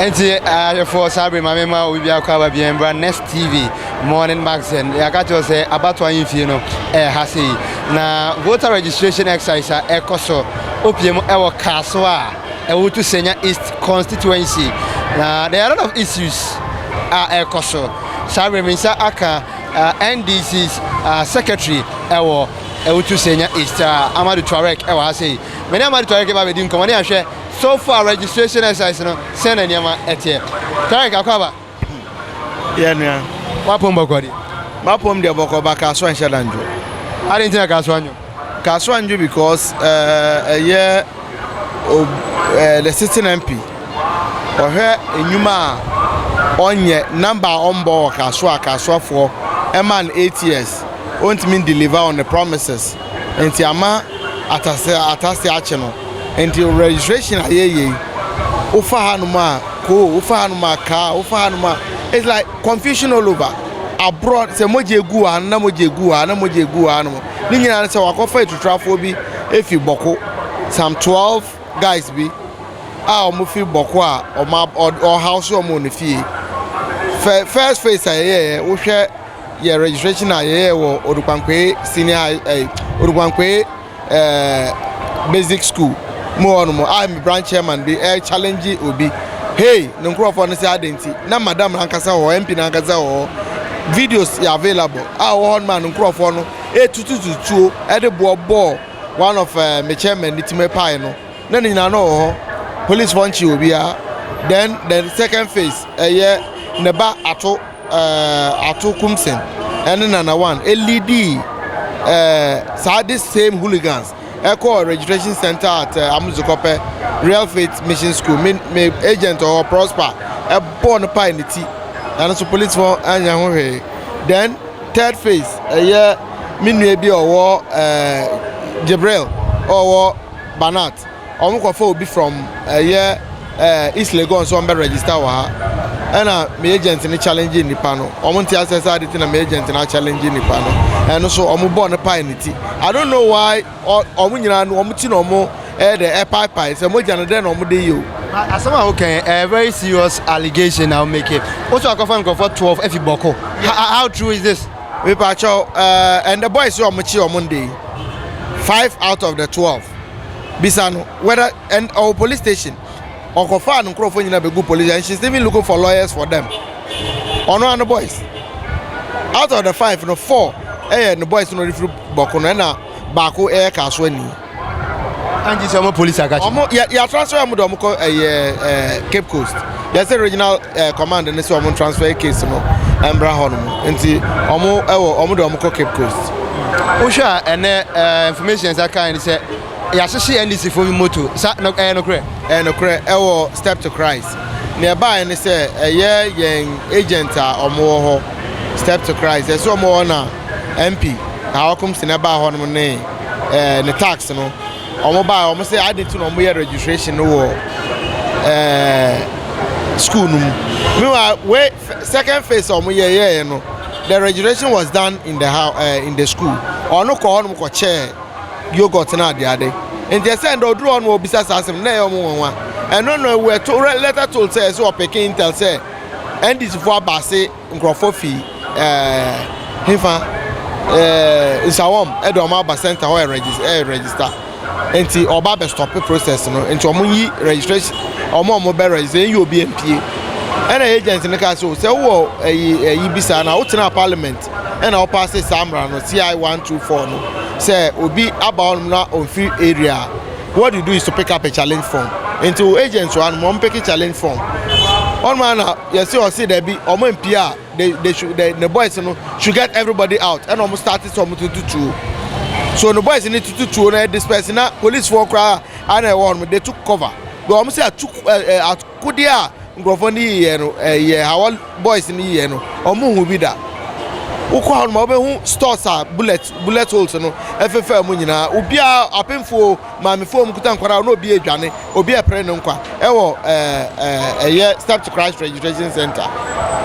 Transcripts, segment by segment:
ɛnti ahwɛfoɔ saa bere ma mema obi biara kɔ aba biara mbra next tv morning magazine yɛaka kyerɛ sɛ abato ayi mfie no ɛha sɛ yi na voter registration exercise a ɛkɔ so opie mu ɛwɔ kaaso a ɛwɔ to senya east constituency na there are a lot of issues a ɛkɔ so saa bere me nsa aka uh, ndc's uh, secretary ɛwɔ ɛwɔ to senya east uh, amadu tuareg ɛwɔ ha sɛ yi mene amadu tuareg ɛba bɛdi nkɔmmɔ ne ahwɛ So far registration exercise no sɛn na nneɛma ɛteɛ? Tarek Akwaba. Yɛ nua. W'apɔm bɔkɔ deɛ? M'apɔm deɛ bɔkɔ ba Kasoa nhyɛ da ndwo. Adi nti na Kasoa ndwo? Kasoa ndwo because ɛyɛ the sitting MP ɔhwɛ nnwuma a ɔnyɛ number a ɔmbɔ wɔ Kasoa Kasoafoɔ ɛma no eight years ɔntumi ndeliver on the promises. nti ama atase atase akye no nti registration a yɛyɛ yi wofa hanom a koo wofa hanom a kaa wofa hanom a it's like confusion all over aborɔ sɛ mogya egu ha na mogya egu ha na mogya egu ha nom ne nyinaa sɛ wakɔfa atuturafoɔ bi efi bɔko some twelve guys bi a wɔn fi bɔko a wɔn ɔhaw so wɔn wɔ ne fie first phase a yɛyɛ wohwɛ yɛ registration a yɛyɛ wɔ odukwankwee senior high ɛɛ eh, odukwankwee ɛɛ eh, basic school mu hɔ nom a me branch chairman bi ɛɛ eh, challenge obi hey ne nkurɔfoɔ no sɛ adɛn nti na madam ankasa wɔ mp no ankasa wɔ videos yɛ available a wɔ hɔ nom a ne nkurɔfoɔ no ɛtutututuo ɛde boɔ bɔɔ one of uh, me chairman ne timi pae no na ne nyinaa no wɔ hɔ policefoɔ nkye obiara then the second phase ɛyɛ ne ba ato Ato Kumsen ne Nana One leadii saa this same hooligans ɛkɔɔ registration center at Amuzikɔpɛ Real Faith Mission School. Me me agent ɔwɔ Prosper ɛbɔɔ no pae ne ti. Ɛno nso policefoɔ anyɛ ho hwee. Then third phase ɛyɛ me nua bi ɔwɔ Jibril ɔwɔ Banat. Ɔmo kɔ fa obi from ɛyɛ ɛɛ East Legon sɛ ɔmo bɛ register wɔ ha ɛna me agent no challenge nipa no ɔmo nte asɛ sɛ ade ti na me agent no a challenge nipa no ɛno so ɔmo bɔ no pae ne ti I don't know why ɔmo nyinaa no ɔmo ti na ɔmo ɛyɛ dɛ ɛpae pae sɛ mogya no dɛ na ɔmo de yɛ o. Asɛm a wokɛn ɛyɛ very serious allegation na wo make woso akɔfa nkorɔfoɔ twelve afi bɔko how true is this. Mepa kyɛw ɛɛ ɛndɛ boys ɔmo kye ɔmo ndɛ yi five out of the twelve. bisa no whether and ɔwɔ police station ɔkɔfaa no nkurɔfoɔ nyinaa bɛgu police and she's even looking for lawyers for them ɔno ano boys out of the five no four ɛyɛ no boys no refiri bɔko no ɛna baako ɛyɛ kaa so ani anti sɛ ɔmo police akakye ɔmo yɛ yɛatra sɛ ɔmo de ɔmo kɔ ɛyɛ eh, eh, cape coast Yɛ sɛ regional ɛɛ eh, command ne sɛ wɔn transfer case no mbra hɔ nom nti wɔn ɛwɔ wɔn de wɔn kɔ Cape Coast. Wohwɛ a ɛnɛ ɛɛ eh, information ɛsɛ kan ne sɛ yɛahyehyɛ NDC fo moto sa no ɛyɛ nokorɛ. Ɛyɛ nokorɛ ɛwɔ step to Christ. Na ɛbaeɛ ne sɛ ɛyɛ yɛn agent a wɔn wɔ hɔ step to Christ ɛsɛ wɔn wɔ na MP na wɔkɔm si na ɛbaa hɔ nom ne ɛɛ eh, ne tax no. wɔn baa wɔn sɛ adi nti na wɔn yɛ registration no wɔ ɛɛ school no mu meanwhile wey second phase a wɔn yɛ yɛɛ no the registration was done in the house ɛɛ eh, in the school ɔno kɔ hɔnom kɔ kyɛɛ yogurt na ade ade nti ɛsɛ ndɛ oduru hɔnom obisa saa asɛm na ɛyɛ wɔn wɔn wa ɛno na ɛwɔ ɛto lɛtɛ to sɛ ɛsɛ ɔpeke intel sɛ ndc fo aba ase. Nkurɔfoɔ fi ɛɛɛ hefa ɛɛɛ nsawam de wɔn aba centre hɔ ɛɛɛ register nti ɔba abɛ stop process no nti wɔn yi registration wɔn a wɔn bɛ register yɛn yi obi mpie ɛna agent no kaa so sɛ wowɔ ɛyi ɛyi bi saa na wotenaa parliament ɛna wɔpaase saa mmara no ci one two four no sɛ obi aba hɔnom na ɔmfiri area a what you do is to pick up a challenge form nti wo agent wɔn wɔn pick challenge form wɔn a na Yɛse ɔse dabi ɔmo ampie a they they should they ne boys no should get everybody out ɛna ɔmo start sɛ ɔmo tutu tuo so ne boys ne tutu tuo na disperse na police foɔ koraa ana ɛwɔ hɔ no they took cover because ɔmo sɛ atu ɛɛ akodeɛ a nkurɔfoɔ no yiyɛ no ɛyɛ hawa boys no yiyɛ no ɔmo hu bi da wokɔ hɔ no ma wobɛhu stores a bullet bullet holes no ɛfefɛ mu nyinaa obiara apemfoɔ Maamefo a wɔkuta nkwadaa a na obi redwane, obi repere ne nkwa wɔ ɛyɛ Step to Christ Registration Center.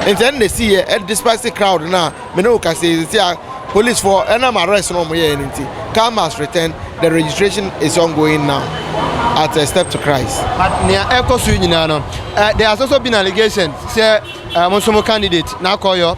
Nti ɛno na ɛsiiɛ, despite crowd no a me ne wo kasa yi sisi a policefoɔ ɛnam arrest no wɔn yɛɛ no nti, car must return, the registration is ongoing now at uh, Step to Christ. But nea ɛkɔ so nyinaa no, uh, there are also been allegations sɛ uh, mo nso mo candidate n'akɔyɔ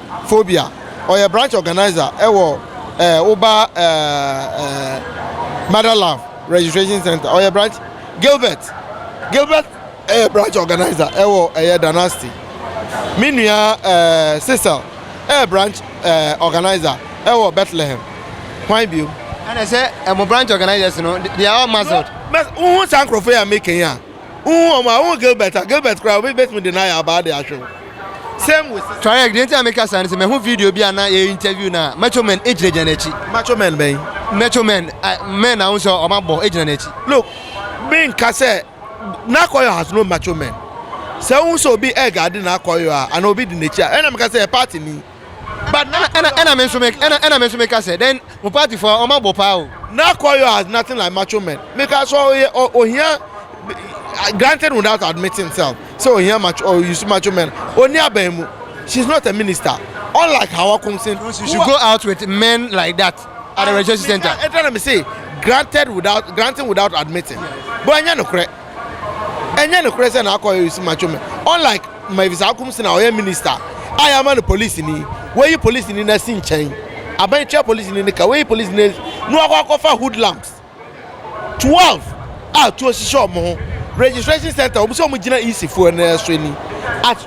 Phobia. Ɔyɛ branch organiser wɔ eh, woba eh, eh, Mother Love Registration Center. Ɔyɛ branch Gilbert. Gilbert ɛyɛ eh, branch organiser wɔ ɛyɛ eh, Danasti. Me nua eh, Cecil ɛyɛ eh, branch eh, organiser wɔ Bethlehem. Hwan bio? Ɛna sɛ ɛmo branch organizers no, they are all muzzled. Wohu saa nkurɔfoɔ yi a meka yi a, Wohu wɔn a, wohu Gilbert a, Gilbert koraa obi betumi de n'ayɛ abaa de ahwe wo. Same with Cecil. Tuareg, deɛ nti a meka saa ne sɛ mahu video bi a na yɛ interview no a Macho Men gyinagyina n'akyi. Macho Men bɛn? Macho Men, a men a wohu sɛ wɔn abɔ gyina n'akyi. Look, me nka sɛ N'Akoyo has no Macho Men. Sɛ wohu sɛ obi ɛreguarde N'Akoyo a anaa obi di n'akyi a, ɛna meka sɛ ɛyɛ party ni. But na ɛna ɛna me nso me ɛna ɛna me nso meka sɛ then mo party fo wɔn abɔ paa o. Now Koyo has nothing like macho men meka sɛ ɔyɛ ɔ ohia granted without admitting himself sɛ ohia macho ɔ use macho men ɔnni aban mu she is not a minister unlike Hawa Kumsin who She should a. go out with men like that at the registration center. Meka ɛda na me se granted without granting without admitting but ɛnyɛ nokorɛ. Ɛnyɛ nokorɛ sɛ na akɔ Harris matwo me unlike Mavis Akumson a ɔyɛ minista a yɛama no polisini yi, woayi polisini no asi nkyɛn, abɛn twea polisini no ka, woayi polisini no asi na wakɔ akɔfa hoodlums 12 a tuo hyehyɛ wɔn ho, registration centre wɔn sɛ wɔn gyina EC foɔ no so ni at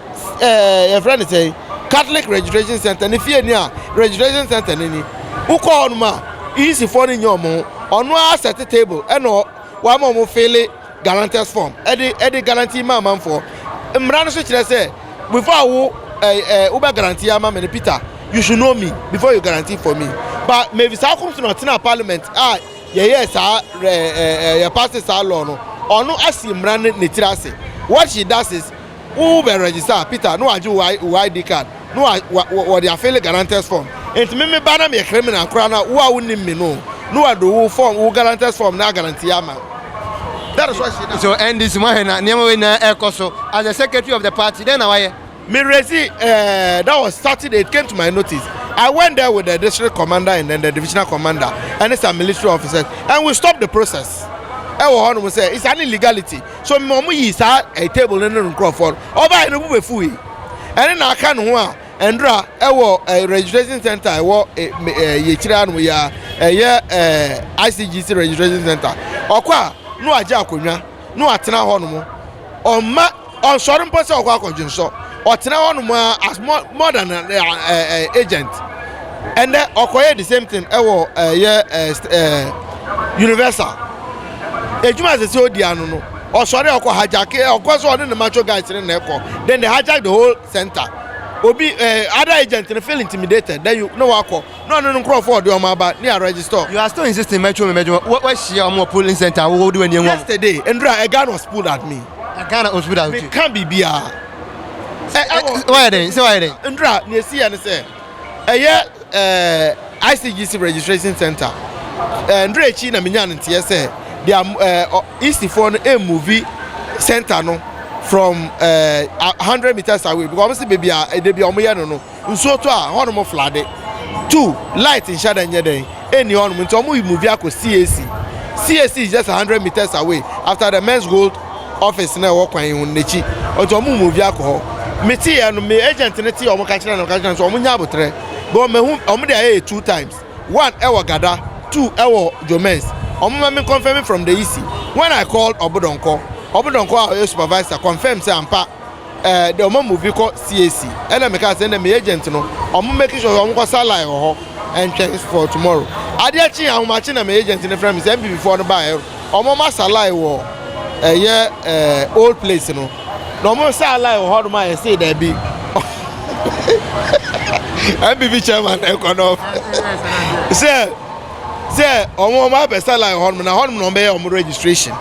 ɛɛ yɛfrɛ no sɛn Catholic registration centre ne fie ni a registration centre no ni, wokɔ hɔnom a EC foɔ no nyɛ wɔn ho, ɔno ara asɛte table ɛna Wɔama wɔn file guarantors form de de guarantee ma amanfoɔ. Mmara no nso kyerɛ sɛ before a wo eh, eh, wobɛ guarantee ama me no Peter, you should know me before you guarantee for me. Ba Mary saa kɔm so na ɔtenaa parliament a yɛyɛɛ saa eh, eh, eh, yɛpaase saa law no. Ɔno asi mmara no ne tiri ase. What she does is Wo bɛ register Peter na wagye wo ID card na wɔde afeele guarantors form nti me me ba na meyɛ criminal koraa na wo a wonim me no na wɔde wo form wo guarantors form na agarantie ama that is why she now. So NDC mu ahɛ na nneɛma wei nyinaa ɛkɔ so as the secretary of the party dɛn na wayɛ? Me resi eh, that was Saturday it came to my notice I went there with the district commander and then the divisional commander and some military officers and we stopped the process ɛwɔ hɔ nom sɛ it's an illegality So mma wɔn yii saa ɛɛ table no ne no nkorɔfoɔ no, ɔbaeɛ no bo bɛfuui. Ɛne na aka ne ho a Ndra ɛwɔ ɛɛ registration center ɛwɔ ɛɛ ɛɛ yɛ akyire anom yi ara ɛyɛ ɛɛ ICGC registration center. Ɔkɔ a na wagye akonnwa na watena hɔnom. Ɔmma ɔnsɔre mpo sɛ ɔkɔ akɔdwensɔ. ɔtena hɔ nom ara as more more than an uh, uh, agent ɛnɛ ɔkɔyɛ the same thing ɛwɔ ɛyɛ ɛɛ universal edwuma sɛ sɛ odi ano no ɔsɔre ɔkɔ hijack ɔkɔ so ɔne ne macho guys ne na ɛkɔ then they hijack the whole center obi ɛɛ other agent no feel intimidated then you no wakɔ. na ɔne ne nkorɔfoɔ a ɔde wɔn aba ne a register. You are still insisting mɛtwe me m'adwuma wo wahyia wɔn wɔ polling center a wo wode w'ani ahu wɔn. Yesterday nduru a a gun was pulled at me. A gun was pulled at you. Meka biribiara. Ɛ ɛwɔ. Wayɛ dɛn sɛ wayɛ dɛn. Nduru a nea esi yɛ ne sɛ ɛyɛ ɛɛ ICGC registration center ɛɛ nduru akyi na menya ne nteɛ sɛ they are ɛɛ EC foɔ no emuvi center no from ɛɛ hundred meters away because wɔn si beebi a ɛdɛ bi a wɔn yɛ no no Nsuo tɔ a, hɔ nom floode. Two, light nhyɛ da nyɛ dɛn, ɛnni hɔ nom, nti ɔmo yi move akɔ CAC. CAC is just a hundred meters away after the men's gold office na ɛwɔ kwan yi ho no n'akyi, nti ɔmo move akɔ hɔ. Me te yɛ no, me agent no te yɛ ɔmo ka kyerɛ no, ka kyerɛ no sɛ ɔmo nya abotrɛ, because mahu ɔmo de ayɛ yɛ two times, one ɛwɔ Gada, two ɛwɔ Jomens, ɔmo ma me confirm from the EC. When I called Ɔbodɔnkɔ, Ɔbodɔnkɔ a ɔyɛ supervisor confirm sɛ ampa, Eh, de ɔma movie kɔ CAC. Ɛna me kaa sɛ ɛna me agent no ɔmo make sure sɛ ɔmo kɔ sa line wɔ hɔ ɛntwɛn for tomorrow. Adeɛ kye ahomakye na me agent no frɛ me sɛ MPP foɔ no baɛ ɔmo ɔmo asa line wɔ ɛyɛ eh old place no. Na ɔmo sa line wɔ hɔ nom a yɛsee daabi. MPP chairman ɛkɔ no sɛ. sɛ wɔn wɔn abɛsa line hɔ nom na hɔ nom na wɔn bɛyɛ wɔn registration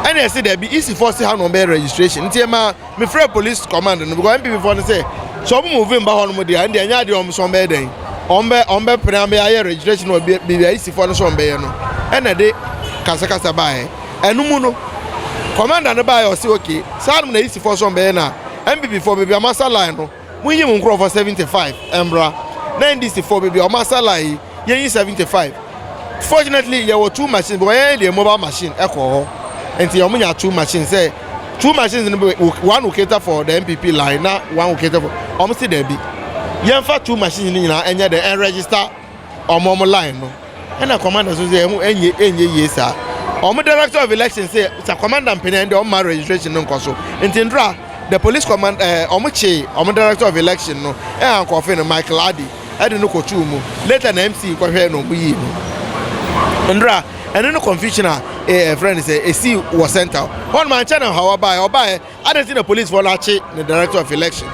ɛna ɛsi dɛbi isi fɔ si ha na wɔn bɛyɛ registration nti ɛma mi fira police command no because npp fɔ no sɛ sɛ wɔn mu vi mba hɔ nom deɛ ɛna ɛnyɛ adeɛ wɔn so wɔn bɛyɛ dɛn wɔn bɛ wɔn bɛ pere abɛyɛ ayɛ registration wɔ bi bi isi fɔ no so wɔn bɛyɛ no ɛna ɛde kasakasa baayɛ ɛno mu no commander no baayɛ ɔsi okay saa nom na isi fɔ so wɔn bɛyɛ na npp fɔ beebi a wɔn asa line no. Monyi mo nkurɔfoɔ 75 mbra na NDC foɔ bɛbi ɔmo asa line yi yɛnyi 75 fortunately yɛwɔ two machines because yɛn deɛ mobile machine ɛkɔɔ hɔ nti ɔmo nya two machines sɛ two machines no one will cater for the NPP line na one will cater for ɔmo se daabi yɛnfa two machines no nyinaa ɛnyɛ dɛ ɛn register Ɔmo ɔmo line no ɛna commander so sɛ ɛho ɛnyɛ ɛnyɛ yie saa ɔmo director of election sɛ sa commander mpanin ɛnde ɔmo ma registration no nkɔ so nti ndra the police command ɛɛ eh, ɔmo kye ɔmo director of election no ɛna eh, nkɔfe no Michael Adi ɛde no kɔtuu mu later na MC kɔhwɛ na ɔmo yii no ndra ɛne no confusion a ɛɛ eh, ɛfrɛ no sɛ esi wɔ center hɔ no ma nkyɛn na hawa baeɛ ɔbaeɛ Adɛn nti na polisfoɔ no akye ne director of election?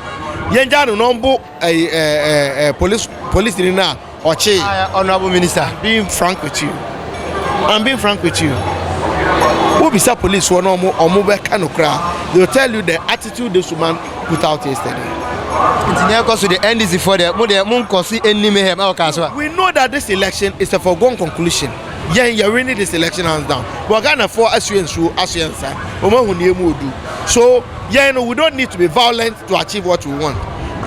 Yɛngya no na ɔmbo ɛyi ɛɛ ɛɛ ɛɛ polis polisini no a ɔkyee. Ah, eh, honourable minister, I'm being frank with you. I'm being frank with you. Wobisa polisfoɔ na ɔmo ɔmo bɛka no koraa, they will tell you the attitude this woman put out yesterday. Nti na ɛkɔ so de NDC foɔ deɛ mo deɛ mo nkɔ so anim hɛm ɛwɔ kaa so a. We know that this election is a foregone conclusion. Yɛn yɛ winning this election hands down but Ghana foɔ asoɛ nsuo asoɛ nsa wɔn ahu neɛ mu odu so yɛn no we don't need to be violent to achieve what we want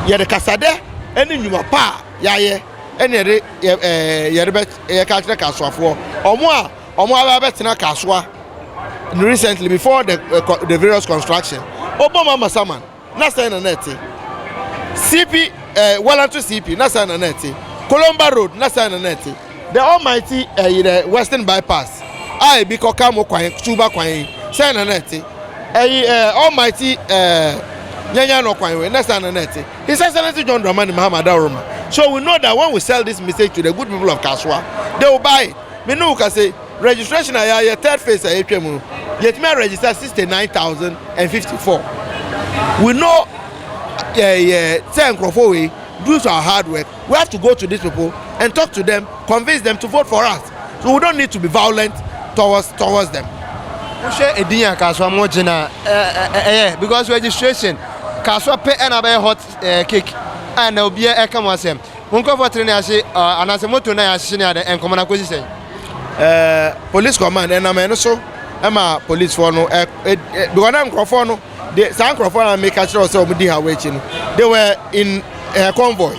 yɛde kasadɛ ɛne nnwuma pa a yɛayɛ ɛne yɛde ɛɛ yɛde bɛ yɛ ka kyerɛ kasoafoɔ wɔn a wɔn aba abɛtena kasoa recently before the, uh, the various construction ɔbɔ mama saman na sɛn na na ɛte? CP, eh, Walanto CP, na sɛn na na ɛte? Kolomba Road, na sɛn na na ɛte? The Almighty, eh, the Western Bypass, a ebi kɔka mo kwan, tuba kwan yi, sɛn na na ɛte? Ɛyi, eh, Almighty, eh, Nyanya no kwan we, na sɛn na na ɛte? His Excellency John Dramani Mahama Adaworoma. So we know that when we sell this mistake to the good people of Kasoa, they will buy it. Me ne wo ka se, Registration a yɛayɛ, third phase a yɛatwa mu no, yɛtumi a register sixty nine thousand and fifty four. We know yɛyɛ sɛ nkurɔfoɔ wei due to our hard work, we have to go to these people and talk to them, convince them to vote for us. So we don't need to be violent towards towards them. wohwɛ edin a kasoa mo gye na ɛyɛ because registration kasoa pɛ ɛna bɛyɛ hot eh, cake a na obiara ɛka mo asɛm mo nkurɔfoɔ tere ne ahye anaasɛ moto na yɛahye ne adɛ nkɔmɔ no akɔsi sɛn ɛɛ police command ɛnam ɛno so ɛma policefoɔ no ɛ ɛ because na nkurɔfoɔ no de saa nkurɔfoɔ na meka kyerɛ sɛ wɔn di ha wɔn akyi no they were in ɛɛ convoy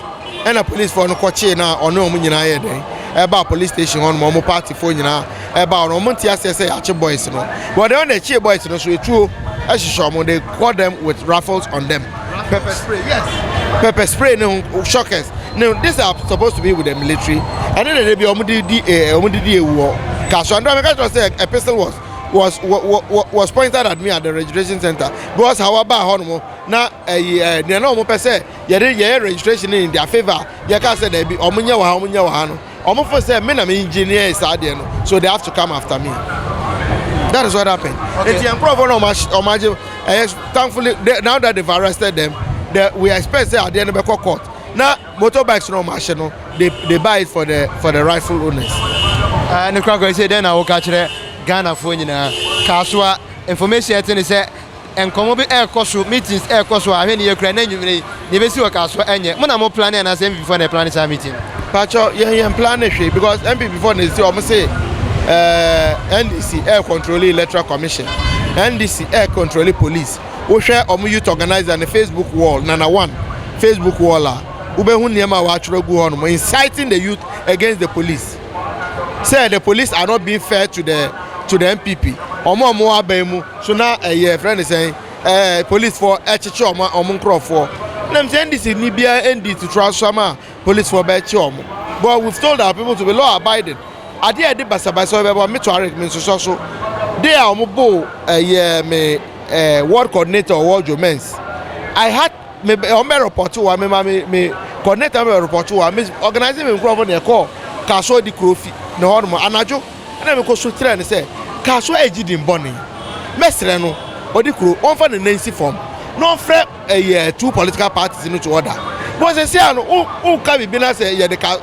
ɛna policefoɔ no kɔkyee na ɔne wɔn nyinaa yɛ dɛn ɛba police station hɔ nom wɔn partyfoɔ nyinaa ɛba wɔn wɔn nti aseɛ sɛ yɛakye boys no wɔn deɛ wɔn na ɛkyee boys no so etuo ɛhyehyɛ wɔn they caught them with rifles on them. pepper spray yes pepper spray ne ho shockers ne this are supposed to be with the military ɛne na ebi wɔn de di ɛɛ wɔn de di ewu hɔ kaso andra mi ka kyerɛ sɛ a pistol was was was pointed at me at the registration center because how aba hɔ nom na ɛyi ɛɛ nea na wɔn pɛ sɛ yɛde yɛyɛ registration in their favour yɛka sɛ dɛbi wɔn nyɛ wɔ ha wɔn nyɛ wɔ ha no. Ɔmo fo sɛ me na me engineer saa adeɛ no so they have to come after me that is what happened okay. Eti nkorɔfoɔ na ɔmo agye ɛyɛ thankfully they, now that they've arrested them the, we expect sɛ adeɛ no bɛkɔ court na motorbikes na ɔmo ahye no they they buy it for the for the rightful owners. Uh, ne kura kura sɛ dɛn na woka kyerɛ Ghanafoɔ nyinaa kaasoa information ɛte ne sɛ Nkɔmmɔ bi ɛrekɔ so, meetings ɛrekɔ so a, ahwɛ nneyɛ koraa na anwumerɛ yi deɛ ɛbɛsi wɔ car soɔ ɛnyɛ mo na mo plane anaasɛ MPP foɔ na ɛplane saa meeting no? Pakyɛw yɛn yɛn plane hwee because MPP foɔ na ɛsi wɔn se ɛɛ NDC ɛɛ controle electoral commission, NDC ɛɛ controle police, wo hwɛ wɔn youth organiser no Facebook wall nana one Facebook wall a wo bɛhu nneɛma a wɔatwerɛ agu hɔ nom inciting the youth against the police. sɛ the police are not being fair to the to the npp wɔn a wɔn aban mu so na ɛyɛ fɛn ne sɛn ɛɛ policefoɔ ɛkyekye wɔn wɔn nkorɔfoɔ nam sɛ ndc ni biara ndi tutura so ama policefoɔ bɛkye wɔn but we told our people to be law abiding adeɛ a ɛde basabasa bɛbɔ me tuareg me nsosɔ so de a wɔn bo ɛyɛ me ɛɛ ward coordinator wɔ dwomens i had. Me bɛ wɔn bɛ repɔto wa me ma me me coordinator bɛ repɔto wa me organize me nkurɔfo na ɛkɔ kaso di kuro fi ne hɔ nom anadwo ɛna me kɔ so kyerɛ no sɛ kaso ɛgye di mbɔne mɛsrɛ no ɔdi kuro ɔnfa ne nan si fam na ɔnfrɛ ɛyɛ eh, two political parties no to order bɔn sɛ sɛ ano wonka biribi na sɛ yɛde ka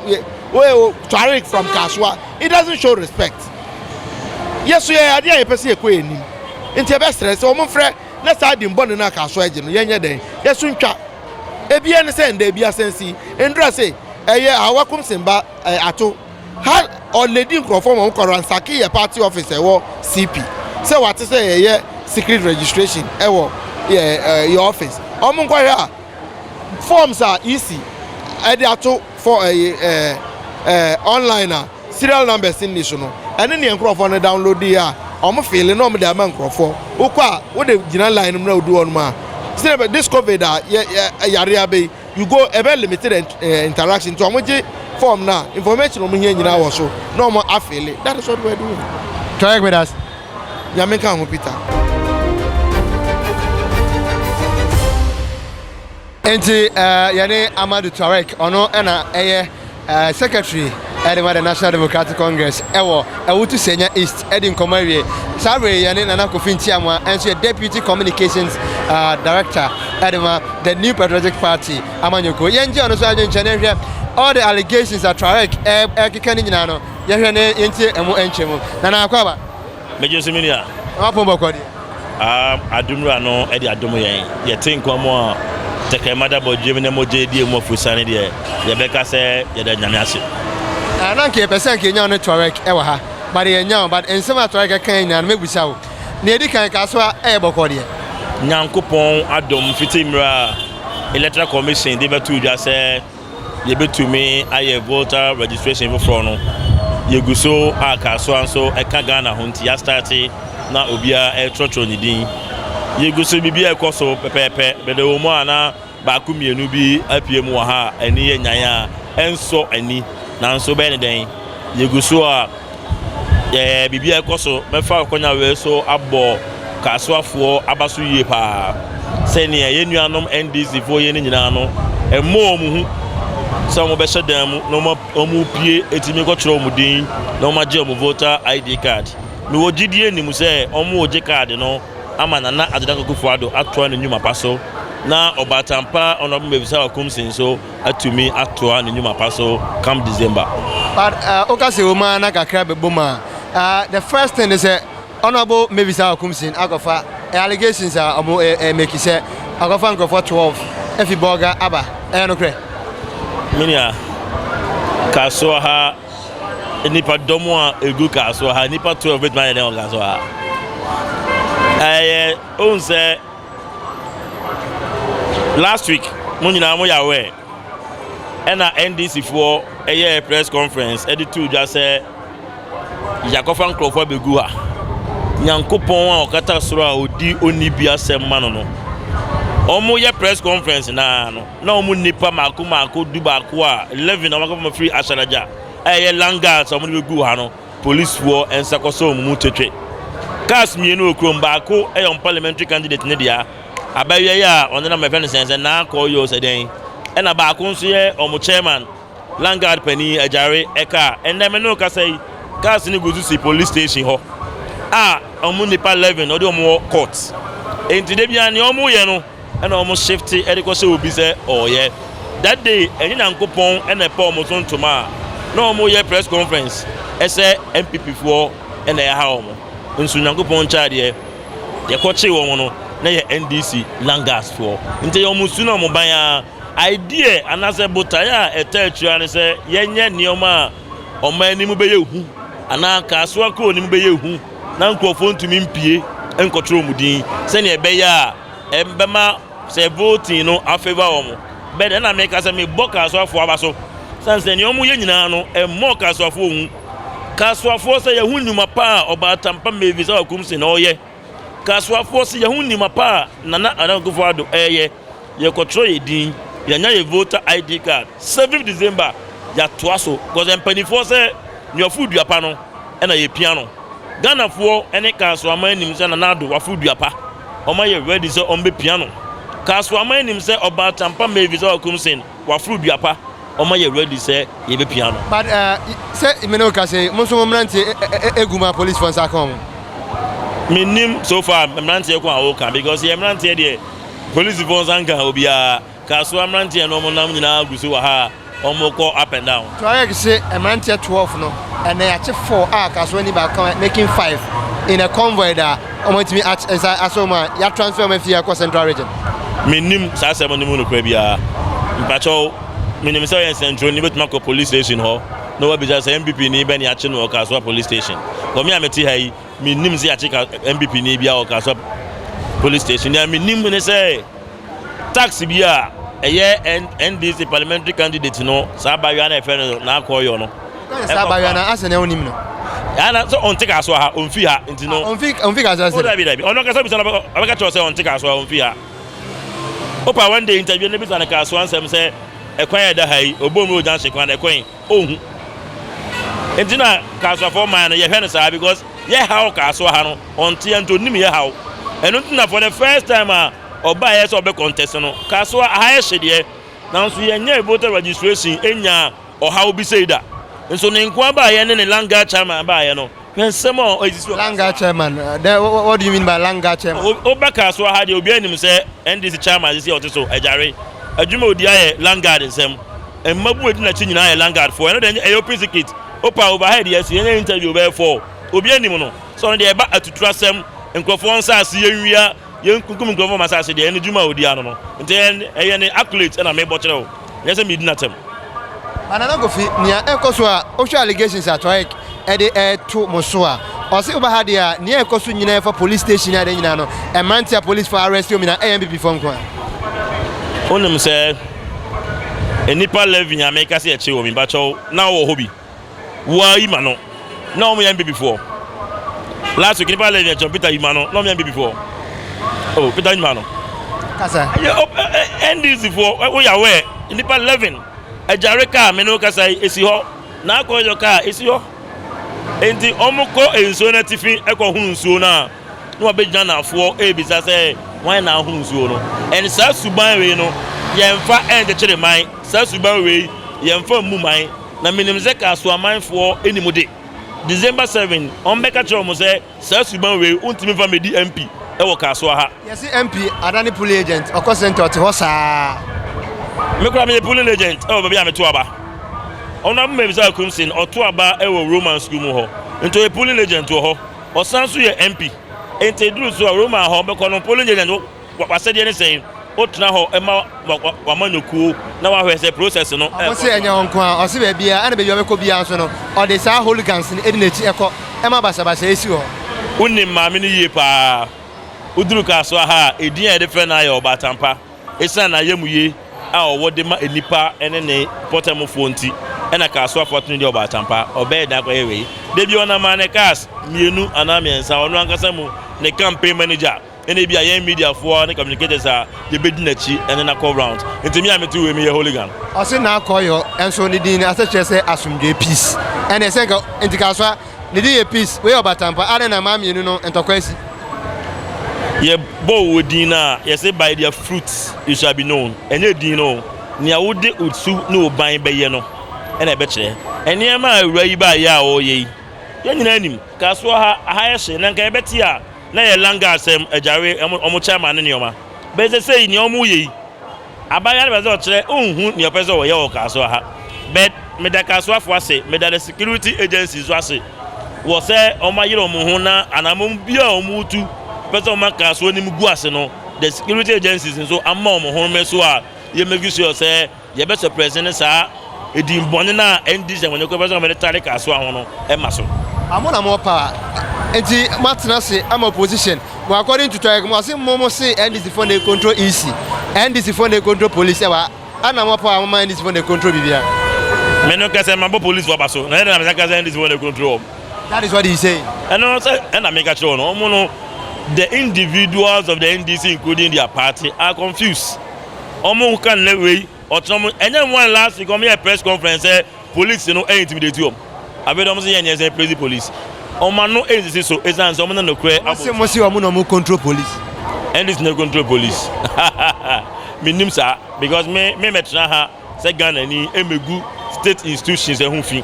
wei tware from kaso a it doesn't show respect yɛso yɛ adeɛ a yɛpɛ sɛ yɛkɔ yɛ nim nti yɛbɛsrɛ sɛ wɔn mfrɛ na saa din bɔne no aka so agye no, yɛnyɛ dɛn? Yɛso ntwa. Ebi ɛne sɛ ɛnda ebi asan si. Ndura se, Ɛyɛ a wakom sen ba eh, ato. Ha ɔledi nkurɔfoɔ ma wɔn kɔ ransake yɛ party office a ɛwɔ CP. Sɛ wate sɛ yɛyɛ secret registration ɛwɔ yɛ, eh, yɛ office. Wɔn nkɔhwɛ a forms a EC ɛde ato for ɛyɛ eh, eh, online a. Serial numbers nni so no, ɛne nea nkorɔfoɔ no downloadee a wɔn feele na wɔn de ama nkorɔfoɔ. Wo kɔ a, wo de gyina line no mu na wo du hɔ nom a, sɛdeɛ ɛbɛ, this covid a yɛ yɛ yareɛ aba yi, you go, ɛbɛ limited ɛn eh, interaction nti wɔn gye form no a, information wɔn hia nyinaa wɔ so na wɔn afeele, that is what we are doing. Twerɛ me da se. Nyame nka wo ho Peter. Enti yɛne Amadou Touareg, ɔno na ɛyɛ secretary de ma the National Democratic Congress wɔ Awutu Senya East adi nkɔmmɔ awie. Saa bere yi yɛne Nana Kofi Ntiamoa, ɛnso yɛ deputy communications director de ma the New Patriotic Party amanyɔkuo. Yɛngye ɔno nso adwenkyɛ na yɛhwɛ all the allegations a Touareg ɛrekeka no nyinaa no, yɛhwɛ na yɛntie ɛmo nkyɛmu. Nana Akwaaba. Megye so me nua. W'apon bɔkɔ deɛ. Aam adom wura no de adom yɛn. Yɛte nkɔm a tɛkrɛma da bɔdwam na mogya adi emu afurusiane deɛ, yɛbɛka sɛ yɛda Nyame ase. Ah na nka yɛpɛ sɛ nka yɛnya wo ne Tuareg wɔ ha but yɛnnya wo but nsɛm a Tuareg kae nyinaa no mɛbusa wo. Nea ɛdi kan, Kasoa yɛ bɔkɔ deɛ. Nyankopɔn adom fiti mmerɛ a Electoral Commission de bɛtoo dwa sɛ. Yɛbɛtumi ayɛ Volta registration foforɔ no. Yɛgu so a Kasoa nso ɛka Ghana ho nti yɛastate na obiara ɛretwerɛtwerɛ ne din. Yɛgu so biribiara ɛkɔ so pɛpɛɛpɛ. Mede wo mu a na baako mmienu bi apue mu wɔ ha a ani yɛ nyan a ɛnsɔ ani nanso wobɛyɛ ne dɛn? Yɛgu so a. Yɛɛ biribiara rekɔ so. Mɛfa akwannya wei so abɔ Kasoafoɔ aba so yie pa ara. Sɛdeɛ yɛn nuanom NDCfoɔ yɛ no nyinaa no, ɛmmɔ wɔn hu sɛ wɔbɛhyɛ dan mu na wɔapue atumi akɔtwerɛ wɔn din na wɔagye wɔn voter ID card. Mewɔ gyidie nim sɛ wɔregye card no ama Nana Addo Dankwa Akufo-Addo atoa ne nnwuma pa so na ɔbaatan pa Honourable Mefisah Okumsingh nso atumi atoa ne nnwuma pa so come December. But uh, woka sɛ wɔn a na kakra bɛbom a uh, the first thing is sɛ honorable Mavis Akumsin akɔfa eh, allegations a wɔn uh, eh, make sɛ akɔfa nkurɔfoɔ 12 afi bɔga aba ɛyɛ nokorɛ menua kasoa ha nipa dɔm a ɛgu kasoa ha nipa 12 bɛtumi ayɛ dɛn wɔ kasoa ha ɛyɛ wohu sɛ Last week mo nyinaa mo yɛ aware ɛna NDC foɔ ɛyɛɛ press conference ɛde tuu dwa sɛ yakɔfa nkorɔfoɔ abɛgu ha. Nyankopɔn a ɔkata soro a ɔdi ɔnni bi asɛm ma no no wɔn yɛ press conference naa no na wɔn nnipa mako mako du baako a eleven a wɔn akɔfa firi Ahyadagya a ɛyɛ Langas a wɔn de bɛgu ha no. Polisfoɔ nsa kɔsɔ wɔn mu twetwe cars mmienu wɔ kurom. Baako yɛ wɔn parliamentary candidate ne dea. Abɛwia yi a ɔnenam ɛfɛ no sɛn sɛ naa kɔɔ yɛ ɔsɛ dɛn. Ɛna baako nso yɛ wɔn chairman Landguard panin Agyare ɛka. Ɛnɛ me ne wo kasa yi cars no gu so si police station hɔ a wɔn nnipa 11 wɔde wɔn wɔ court. Enti da biara nea wɔyɛ no. ɛna wɔn shifte ɛde kɔ hyɛ obi sɛ ɔɔyɛ that day ɛnyɛ nyankopɔn ɛna ɛpɛ wɔn so ntoma a na wɔn yɛ press conference ɛsɛ npp foɔ ɛna ɛha wɔn nso nyankopɔn nkyɛn adeɛ yɛkɔ kye wɔn no na yɛ ndc langas foɔ nti yɛ wɔn su na wɔn ban a idea anaasɛ botae a ɛtɛ atua ne sɛ yɛnyɛ nneɛma a wɔn anim bɛyɛ hu anaa kaasoa kuro anim bɛyɛ hu. na nkurɔfoɔ ntumi mpue nkɔtwerɛ wɔn din sɛdeɛ ɛbɛyɛ a ɛbɛma sɛ voting no afavour wɔn bɛdɛ na meka sɛ mebɔ kasoafoɔ aba so sane sɛ nea wɔyɛ nyinaa no ɛmmɔɔ kasoafoɔ hu kasoafoɔ sɛ yɛho nnwuma pa a ɔbaa tampa mavis a wakum se na ɔyɛ kasoafoɔ sɛ yɛho nnwuma pa a nana anakufoɔ ado ɛyɛ Yɛkɔtwerɛ yɛn din, yɛanya yɛn voter ID card, seventh December yɛatoa so because mpaninfoɔ sɛ nea ɔforo dua pa no na yɛpia no. Ghanafoɔ ne Kasoa man nim sɛ Nana Addo waforo dua pa, wɔayɛ ready sɛ wɔbɛpia no. Kasoa man nim sɛ Ɔbaa Tampa Mavis a ɔkum Sen. Waforo dua pa, ɔma yɛ ready sɛ yɛbɛ pia no. But eh, sɛ me ne wo kasa yi, mo nso mo mmeranteɛ eh, eh, eh, egu mu a policefoɔ nsa aka wɔn? Mennim so far mmeranteɛ ko a woka because yɛ mmeranteɛ deɛ policefoɔ nsa nka obiara. Kasoa mmeranteɛ no wɔn nam nyinaa gu so wɔ ha a wɔn kɔ up and down. Tuareg se mmeranteɛ 12 no, ɛnnɛ yɛakye 4 a Kasoa ni baako ka ho, making 5 in a convoy da. Wɔatumi at nsa asɔ mu a yɛatransfer wɔn afi ha kɔ Central Region. mennim saa asɛm no mu nokorɛ biara mpakyɛw menim sɛ ɔyɛ nsɛntwerɛni bɛtumi akɔ police station hɔ na wabisa sɛ mpp ni bɛne akye no wɔ kasoa police station wɔ me a mete ha yi mennim sɛ yɛakye mpp ni biara wɔ kasoa police station nea menim ne sɛ Tax bi a ɛyɛ NDC parliamentary candidate no saa abayewa na ɛfɛ no n'akɔ yɔ no. Ɔka yɛ saa abayewa na asɛ na ɔnim no. Ɛha na sɛ ɔnte kaa so ha ɔnfi ha nti no. Ɔnfi ɔnfi kaa so asɛ. O dabi dabi ɔno kasa bisa no ɔbɛka kyerɛ sɛ ɔnte kaa so ha ɔnfi ha. Opa one day interview no bisa no kaa so ansɛm sɛ ɛkwan a ɛda ha yi ɔbɔ mu junction kwan ɛkwan ɔnhu. Nti na kaa so afɔ man no yɛhwɛ no saa because yɛ haw kaa so ha no ɔnte nti ɔnim yɛ haw. Ɛno nti na for the first time a. ɔbaeɛ sɛ ɔbɛ contest no kaa so a aha yɛ hye deɛ nanso yɛn nyɛɛ voter registration ɛnyaa ɔhaw bi sei da nso ne nkoa baeɛ ne ne land guard chairman baeɛ no hwɛ nsɛm a ɛsisi wɔ land guard chairman then what do you mean by land guard chairman wo ba kaa so aha deɛ obiara nim sɛ NDC chairman sisi a ɔte so agyare adwuma odi ayɛ land guard nsɛm mmabu edi n'akyi nyinaa yɛ land guard foɔ ɛno deɛ ɛyɛ open secret opa overhead yɛ si yɛnyɛ interview bɛyɛ four obiara nim no sɛ ɔno deɛ ɛba atuturasɛm nkurɔfoɔ nsa ase yɛnwia Yɛnkunkum nkurɔfo wɔ m'asase deɛ, ɛno dwuma a ɔdi ano no nti, ɛyɛ ne accolades na mebɔ kyerɛ wo, ɛnyɛ sɛ meredi no atɛm. But Nana Kofi, nea ɛrekɔ so a, wohwɛ allegations a Tuaec de reto mo so a, ɔse woba ha deɛ a, nea ɛrekɔ so nyinaa ɛfa police station ne ade nyinaa no, mmeranteɛ a policefoɔ arrest wɔn nyinaa ɛyɛ NPPfoɔ nko ara. Wonim sɛ nnipa 11 a meka sɛ yɛkyere wɔn yi, mpakyɛw na wowɔ hɔ bi? Wo ara yima no na wɔn yɛ mbebi foɔ. Last week nipa lɛ ni ɛkyɛn Peter yima no na wɔn yɛ mbebi foɔ. Oh Peter yima no. Kasa. Ɛyɛ o ɛ ɛ ɛ NDC foɔ ɛ o yɛ aware nipa eleven ɛgyare kaa mene o kasa yi esi hɔ na akɔ yɔ kaa esi hɔ. Enti wɔn kɔ nsuo no atifi ɛkɔ hunu nsuo no a. na wɔabɛdwane afoɔ rebisa sɛ, Hwan na ahoro nsuo no? Ɛnde saa suban wei no, yɛmfa nkyekyere mman, saa suban wei, yɛmfa mmu mman. Na menim sɛ Kasoamanfoɔ nni mu de. December seven, wɔbɛka kyerɛ wɔn sɛ, Saa suban wei, wontumi mfa mmɛdi MP wɔ Kasoa ha. Yɛse MP adane polling agent, ɔkɔ centre ɔte hɔ saa. Me koraa meyɛ polling agent wɔ baabi a meto aba. Honourable Mabisa Akumsin, ɔto aba wɔ Roman School mu hɔ, nti ɔyɛ polling agent wɔ hɔ. Ɔsan nso yɛ MP. Enti eduru so a Roma a hɔ ɔbɛkɔ no polling agent no w'asɛdeɛ ne sɛn? Otena hɔ ma w'amanyɔkuo na w'ahwɛ sɛ process no ɛkɔ so a. Ɔse ɛnyɛ hɔ nko ara, ɔse baabiara ɛna baabi a ɔbɛkɔ biara nso no ɔde saa hooligans no edi n'akyi ɛkɔ ɛma basabasa esi hɔ. Wonim maame no yie paa. Woduru Kasoa ha a, edin a yɛde frɛ no ara yɛ Ɔbaatan Pa. Esiane n'ayamye a ɔwɔ de ma nnipa ne ne mpɔtamfoɔ nti na Kaas afa tumi de ɔbaatan pa a ɔbɛyɛ dɛn akɔyɛ wei? Da bi ɔnam maa ne kaas mmienu anaa mmiɛnsa, ɔno ankasa mu ne campaign manager ne ebia yɛn mediafoɔ ne communicators a yɛbɛdi n'akyi ne no akɔ rounds. Nti me a mete wei meyɛ hooligan? Ɔse n'akɔyɔ nso ne din ase kyerɛ sɛ asomdwoe, peace, ɛnneɛ sɛ nka nti Kasoa Ne din yɛ Peace. Wei yɛ ɔbatampa. Adɛn na mmaa mmienu no ntɔkwa asi? Yɛbɔ wo din no a, yɛse by their fruit you shall be known. Ɛnyɛ din no o. Nea wode wo su ne wo ban bɛyɛ no na ɛbɛkyerɛ. Nneɛma a awuraa yi baayɛ a ɔreyɛ yi, yɛn nyinaa nim. Kasoa ha, aha yɛ hye na nka yɛbɛte a na ɛyɛ Langaa asɛm, agyare, wɔn chairman ne nneɛma. But seesei nea wɔreyɛ yi, Aban yare bɛdze ɔkyerɛ onnhu nea ɔpɛ dɛ ɔyɛ wɔ Kasoa ha but meda Kasoafo ase, meda the security agencies so ase wɔ sɛ wɔayere wɔn ho na anamɔn biara a wɔretu pɛ sɛ wɔma Kasoa anim gu ase no the security agencies nso ama wɔn ho mmeso a yɛmmake sure sɛ yɛbɛ suppress ne saa Edin bɔne no a ɛnni nsɛmmɔne kwan biara so na wɔde tare kaa soa ho no ma so. A mo na mo pa nti mo atena ase ama opposition mo according to twerɛ mo se mo mo se NDC foɔ na e control EC NDC foɔ na e control police ɛwɔ ha a na mo pa a mo ma NDC foɔ na e control biribiara. Me no kɛsɛ ma bɔ police foɔ aba so na ɛna na me sa kɛsɛ NDC foɔ na e control wɔn. That is what he is saying. Ɛno no sɛ ɛna me ka kyerɛ wɔn wɔn no the individuals of the NDC including their party are confused wɔn ka nnɛ wei. ɔtena ɔmo ɛnyɛ mo one last week ɔmo yɛ press conference sɛ police no ɛyɛ intimidate ɔmo abɛ de ɔmo sɛ yɛn yɛn sɛ praise police ɔmo ano ɛyɛ sisi so esan sɛ ɔmo na nokorɛ abɔ. ɔmo se mo se ɔmo na ɔmo control police. ndc na control police mi nim saa because me me mɛ tena ha sɛ ghana ni ɛmɛ gu state institutions ɛho fi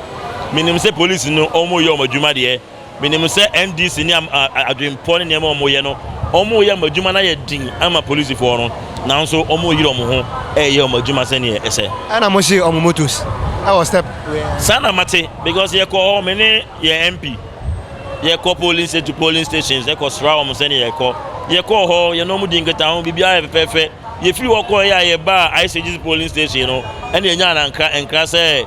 mi nim sɛ police no ɔmo yɛ ɔmo adwuma deɛ. Menim sɛ NDC ne am a adwenpɔ ne nneɛma a wɔyɛ no, wɔreyɛ wɔn adwuma no ayɛ den ama polisifoɔ no, nanso wɔreyere wɔn ho reyɛ wɔn adwuma sɛdeɛ ɛsɛ. Ɛna mohye wɔn motos wɔ step wei a. Saa na mate because yɛkɔ hɔ me ne yɛn MP yɛkɔ polling station to polling stations ɛkɔ sra wɔn sɛdeɛ yɛkɔ yɛkɔɔ hɔ yɛne wɔn di nkitaho biribiara yɛ fɛfɛɛfɛ yɛfiri hɔ kɔɔ yɛ a yɛbaa ICGC polling station no ɛna yɛnya anankra nkra sɛ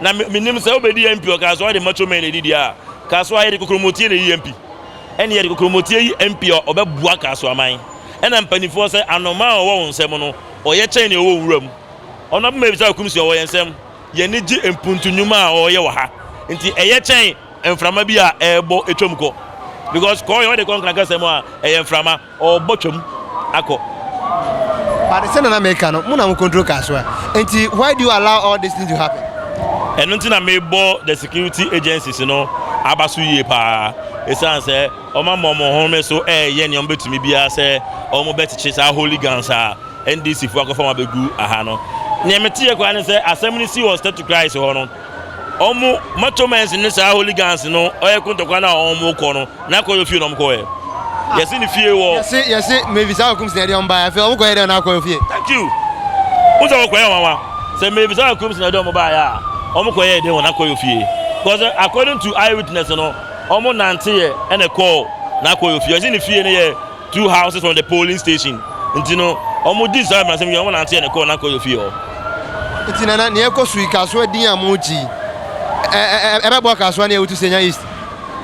Na me, menim sɛ wobɛdi yɛn mpi. Ɔkaa sɛ ɔde macho men adidie a Kasoa yɛ de kokromɔtie na ɛyi yɛn mpi. Ɛne yɛde kokromɔtie yi mpi a ɔbɛboa Kasoaman. Ɛna mpaninfoɔ sɛ anomaa a ɔwɔ wo nsam no, ɔyɛ kyɛn deɛ ɔwɔ nwura mu. Ɔno abɛma yɛbisa Akumsi a ɔwɔ yɛn nsam. Yɛn ani gye mpuntu nnwuma a ɔreyɛ wɔ ha. Nti ɛyɛ kyɛn mframa bi a ɛrebɔ ɛtwam kɔ. Because kɔɔyɛ ɔde kɔ nkranka sɛm a, ɛyɛ mframa. Ɔɔbɔ twam akɔ. But sɛnea na meka no, mo na mo control car so a, nti why do you allow all this thing to happen? Ɛno nti na mebɔ the security agencies no aba so yie paa, ɛsiane sɛ wɔama wɔn home so reyɛ nea wɔbɛtumi biara sɛ wɔbɛkyekye saa hooligans a NDC foɔ akɔfa wɔn abɛgu ha no. Nea meteeɛ koraa ne sɛ asɛm no si wɔ Step to Christ hɔ no, wɔn matɔmɛns ne saa holy guns no ɔyɛ ko ntɔkwa no a wɔn kɔ no na akɔ yɛ fie na wɔn kɔ yɛ ah. yɛsi ne fie wɔ. yɛsi yɛsi mevi saa okum sinadi wɔn ba yɛ afei wɔn kɔ yɛ dɛ na akɔ yɛ fie. thank you n sɛ wɔn kɔ yɛ wɔn wa sɛ mevi saa okum sinadi wɔn ba yɛ a wɔn kɔ yɛ dɛ wɔn akɔ yɛ fie because according to eye witness no wɔn nante yɛ ɛna kɔɔ na akɔ yɛ fie yɛsi ne fie no yɛ. two houses from the polling station nti no wɔn di saa mmaransɛm yi wɔn nante yɛ ne kɔɔ n'akɔ yɛ fie hɔ. Nti nana nea ɛkɔ so yi kasoa din a mogye yi ɛbɛboa kasoa ne awutu senya east.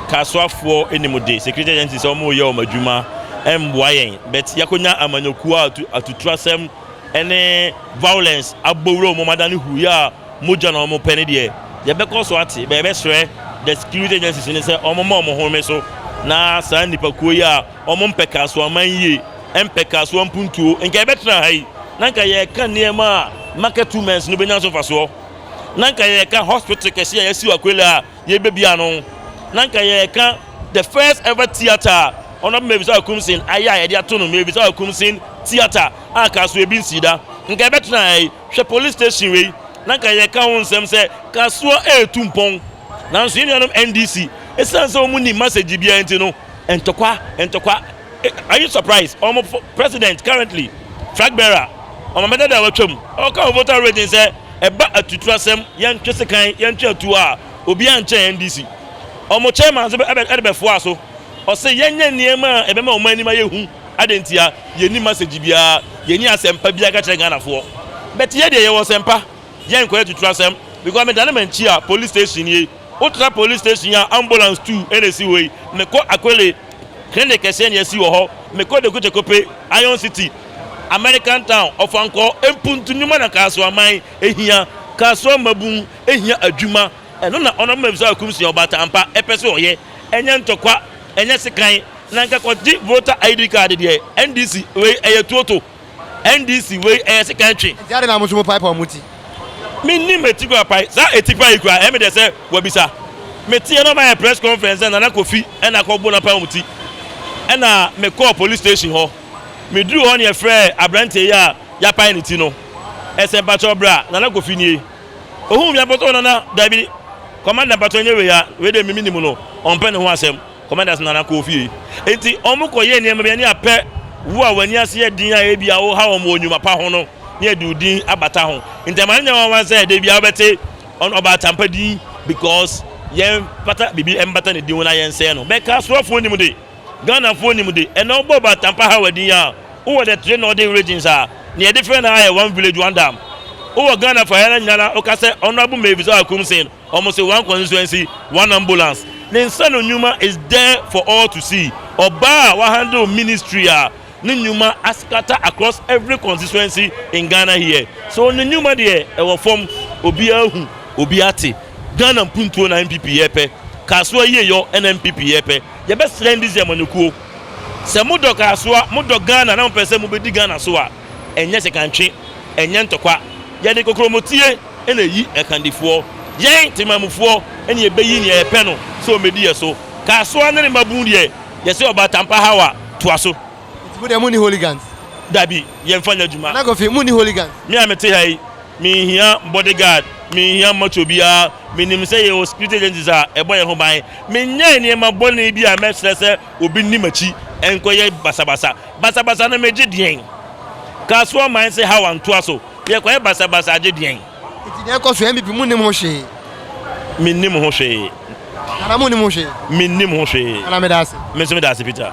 Kasoafoɔ anim de security agency sɛ wɔn yɛ wɔn adwuma ɛmboa yɛn but yakonya amanyɔkuo a atuturasɛm ɛne violence abɔ wura wɔn adane huuyɛ a Mogya na wɔpɛ no deɛ yɛbɛkɔ so ate, but yɛbɛsrɛ the security agencies no sɛ wɔmma wɔn ho mme so na saa nnipakuo yi a wɔmpɛ kasoaman yie, mpɛ kasoa mpuntuo, nka yɛbɛtena ha yi na nka yɛreka nneɛma a market women's no bɛnya so mfasoɔ, na nka yɛreka hospital kɛseɛ a yɛasi wɔ Akwelea a yɛbɛbie ano, na nka yɛreka the first ever theatre a Honourable Mevisa Akumsin ayɛ a yɛde ato no Mevisa Akumsin Theatre a kasoa bi nsii da, nka yɛbɛtena ha yi. Hwɛ police station wei na nka yɛka ho nsɛm sɛ kasoa retu mpɔn nanso yɛn nuanom NDC ɛsiane sɛ wɔn nim message biara nti no ntɔkwa ntɔkwa are you surprised wɔn president currently flag bearer wɔn mɛdada a watwam ɔka wɔ voter rating sɛ ɛba atutu asɛm yɛntwe sekan yɛntwe atuo a obiara nkyɛn NDC wɔn chairman nso ɛde bɛfoa so ɔse yɛnyɛ nneɛma a ɛbɛma wɔn anim ayɛ hu Adɛn ntia? Yɛnni masɛgye biara, yɛnni asɛmpa biara ka kyerɛ Ghanafoɔ. But yɛ deɛ yɛwɔ sɛmpa, yɛ nkɔyɛ tutura sɛm. Because me dane m'ankyi a police station nie, wo tra police station a ambulance two na ɛsi hɔ yi, me kɔ Akwele, clinic kɛseɛ na yɛasi wɔ hɔ, me kɔ Dekuche Kope, Iron City, American Town, Ɔfankɔ, Mpuntu, Nyuma na Kasoaman ɛhia, Kasoa Mmabun ɛhia adwuma. Ɛno na ɔno ma bisa ɔkum sua ɔbaatan ampa ɛpɛ sɛ ɔyɛ ɛnyɛ ntɔkwa ɛnyɛ sekan na nka kɔgye voter ID card deɛ NDC wei ɛyɛ tuo to NDC wei ɛyɛ sekan twe. Nti adɛn na mo nso mo paipa ɔmo ti? Me nim eti kura pae saa eti pae yi kura ɛyɛ me dɛ sɛ wa bisa me teɛ na ɔma yɛ press conference sɛ Nana Kofi ɛna akɔ bo na pae ɔmo ti ɛna me kɔɔ police station hɔ me duru hɔ ne yɛ frɛɛ abranteɛ yi a ya pae ne ti no ɛsɛ mpakyɛw bra Nana Kofi nie Ohuu me abɔtɔɔ no na, Dabi, Commander mpakyɛw nyɛ wei a, wei deɛ me menim no, ɔmpɛ ne ho asɛm, Commander se Nana kɔ ofie. Enti wɔn kɔ yɛɛ nneɛma bi ani apɛ wo a w'ani ase yɛ den a ebia wo ha wɔn wɔ nnwuma pa ho no na yɛde wo din abata ho. Enti ɛma no nyɛ nwanwa sɛ da biara wobɛte ɔn ɔbaa Tampa din because yɛn pata biribi mbata ne din ho na yɛnsɛe no. Bɛka asoafoɔ nim de. Ghanafoɔ nim de, ɛnna wobɔ ba Tampahawa din a, wowɔ the three northern regions a, nea yɛde frɛ no ara yɛ one village, one dam. Wowɔ Ghana fa ara nyinaa no a, woka sɛ Honourable Mavis Oah Akumsing, wɔn se one constituency, one ambulance. Ne nsa no nnwuma is there for all to see. Ɔbaa a wahandle ministry a ne nnwuma ascatter across every constituency in Ghana here. So ne nnwuma deɛ, ɛwɔ fam, obiara ahu, obiara ate. Ghana mpuntuo na NPP yɛ pɛ. Kasoa yieyɔ na NPP yɛ pɛ. yɛbɛsrɛ ndc amanyɔkuo sɛ mo dɔ kasoa mo dɔ Ghana na mo pɛ sɛ mo bɛdi Ghana so a ɛnyɛ sekantwe ɛnyɛ ntɔkwa yɛde kokromɔtie na ɛyi ɛkandifoɔ yɛn temamufoɔ na yɛbɛyi neɛ yɛpɛ no sɛ ɔmɛdi yɛ so kasoa ne ne mabun deɛ yɛsɛ ɔba tampa hawa toa so. Nti mo deɛ mo nni holigans? Dabi yɛn fa nyɛ adwuma. Nana Kofi mo nni holigans? Me a mete ha yi me nhia body guard me nhia macho biara me nim sɛ yɛ wɔ security agencies a ɛbɔ yɛn ho ban. Menyɛɛ nneɛma bɔne bi a mɛsrɛ sɛ obi nni m'akyi nkɔyɛ basabasa. Basabasa no megye deɛn? Kasoa man se Hawa ntoa so, yɛkɔyɛ basabasa agye deɛn? Nti deɛ ɛkɔ so NBP monim ho hwee? Mennim ho hwee. Nana monnim ho hwee? Mennim ho hwee. Nana meda ase. Me nso meda ase Peter.